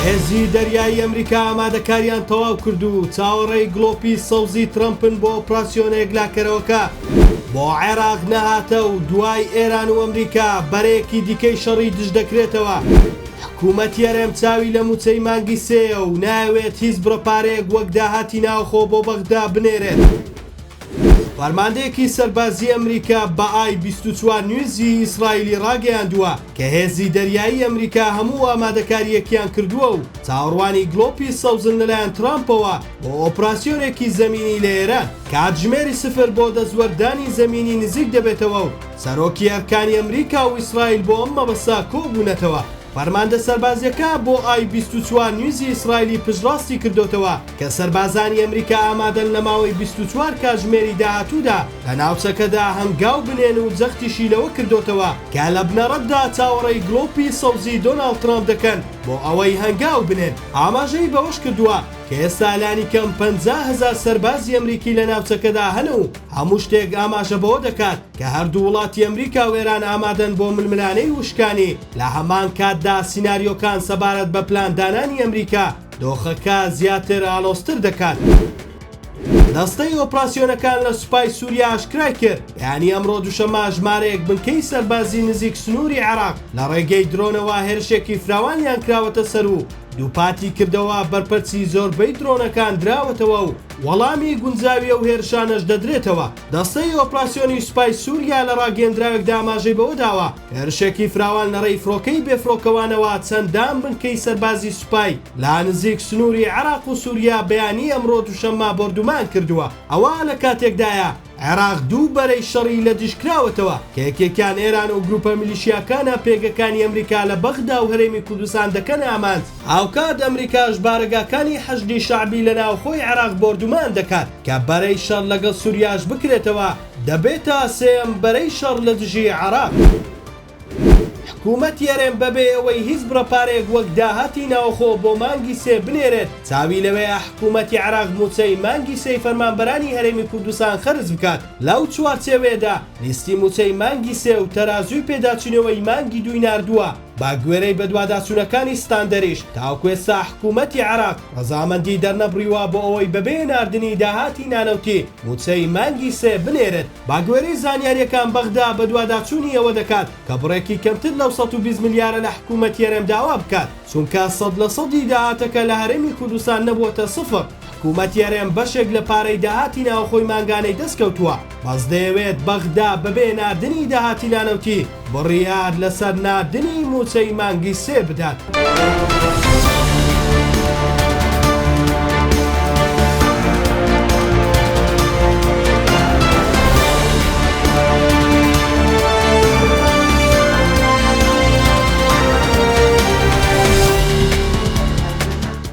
هێزی دەریایی ئەمریکا ئامادەکاریان تەواو کرد و چاوەڕێی گڵۆپی سەوزی ترەمپن بۆ ئۆپراسیۆنە یەکلاکەرەوەکە بۆ عێراق نەهاتە و دوای ئێران و ئەمریکا بەرەیەکی دیکەی شەڕی دژ دەکرێتەوە. حکومەتی هەرێم چاوی لە مووچەی مانگی سێیە و نایەوێت هیچ بڕە پارەیەک وەک داهاتی ناوخۆ بۆ بەغدا بنێرێت. فەرماندەیەکی سەربازیی ئەمریکا بە ئای بیست و چوار نیوزی ئیسرائیلی ڕاگەیاندووە، کە هێزی دەریایی ئەمریکا هەموو ئامادەکارییەکیان کردووە و چاوەڕوانی گڵۆپی سەوزن لەلایەن ترامپەوە بۆ ئۆپراسیۆنێکی زەمینی لە ئێران، کاتژمێری سفر بۆ دەستوەردانی زەمینی نزیک دەبێتەوە و سەرۆکی ئەرکانی ئەمریکا و ئیسرائیل بۆ ئەم مەبەستە کۆبوونەتەوە. فەرماندە سەربازییەکە بۆ ئای بیست و چوار نیوزی ئیسرائیلی پشتڕاستی کردۆتەوە کە سەربازانی ئەمریکا ئامادەن لە ماوەی بیست و چوار کاتژمێری داهاتوودا لە ناوچەکەدا هەنگاو بنێن و جەختیشی لەوە کردۆتەوە کە لە بنەڕەتدا چاوەڕێی گڵۆپی سەوزی دۆناڵد ترامپ دەکەن بۆ ئەوەی هەنگاو بنێن، ئاماژەی بەوەش کردووە کە ئێستا لانیکەم پەنجا هەزار سەربازی ئەمریکی لە ناوچەکەدا هەن و هەموو شتێک ئاماژە بەوە دەکات کە هەردوو وڵاتی ئەمریکا و ئێران ئامادەن بۆ ململانێی وشکانی، لە هەمان کاتدا سیناریۆکان سەبارەت بە پلاندانانی ئەمریکا دۆخەکە زیاتر ئاڵۆزتر دەکات. دەستەی ئۆپراسیۆنەکان لە سوپای سووریا ئاشکرای کرد، بەیانی ئەمڕۆ دووشەممە ژمارەیەک بنکەی سەربازی نزیک سنووری عێراق لە ڕێگەی درۆنەوە هێرشێکی فراوانیان کراوەتە سەر و دووپاتی کردەوە بەرپەرچی زۆربەی درۆنەکان دراوەتەوە و وەڵامی گونجاوی ئەو هێرشانەش دەدرێتەوە. دەستەی ئۆپراسیۆنی سوپای سووریا لە ڕاگەیەندراوێکدا ئاماژەی بەوە داوە، هێرشێکی فراوان لە ڕێی فڕۆکەی بێفڕۆکەوانەوە چەندان بنکەی سەربازی سوپای لە نزیک سنووری عێراق و سووریا بەیانی ئەمڕۆ دووشەممە بۆردومان کردووە، ئەوە لە کاتێکدایە عێراق دوو بەرەی شەڕی لە دژ کراوەتەوە کە یەکێکیان ئێران و گرووپە میلیشیاکانە پێگەکانی ئەمریکا لە بەغدا و هەرێمی کوردستان دەکەنە ئامانج، هاوکات ئەمریکاش بارەگاکانی حەشدی شەعبی لە ناوخۆی عێراق بۆردومان دەکات کە بەرەی شەڕ لەگەڵ سووریاش بکرێتەوە. دەبێتە سێیەم بەرەی شەڕ لە دژی عێراق. حکومەتی هەرێم بەبێ ئەوەی هیچ بڕە پارەیەک وەک داهاتی ناوەخۆ بۆ مانگی سێ بنێرێت چاوی لەوەیە حکومەتی عێراق مووچەی مانگی سێی فەرمانبەرانی هەرێمی کوردستان خەرج بکات، لەو چوارچێوەیەدا لیستی مووچەی مانگی سێ و تەرازووی پێداچوونەوەی مانگی دووی ناردووە. بە گوێرەی بەدواداچوونەکانی ستاندەریش، تاوەکو ئێستا حکوومەتی عێراق ڕەزامەندیی دەرنەبڕیوە بۆ ئەوەی بەبێ ناردنی داهاتی نانەوتی مووچەی مانگی سێ بنێرێت. بە گوێرەی زانیارییەکان بەغدا بەدواداچوونی ئەوە دەکات کە بڕێکی کەمتر لەو سەد و بیست ملیارە لە حکوومەتی هەرێم داوا بکات، چونکە سەد لە سەدی داهاتەکە لە هەرێمی کوردستان نەبووەتە سفر. حکومەت یەرێم بەشێک لە پارەی داهاتی ناوخۆی مانگانەی دەست کەوتووە، بەس دەیەوێت بەغدا بەبێ ناردنی داهاتی نانەوتی بڕیار لەسەر ناردنی مووچەی مانگی سێ بدات.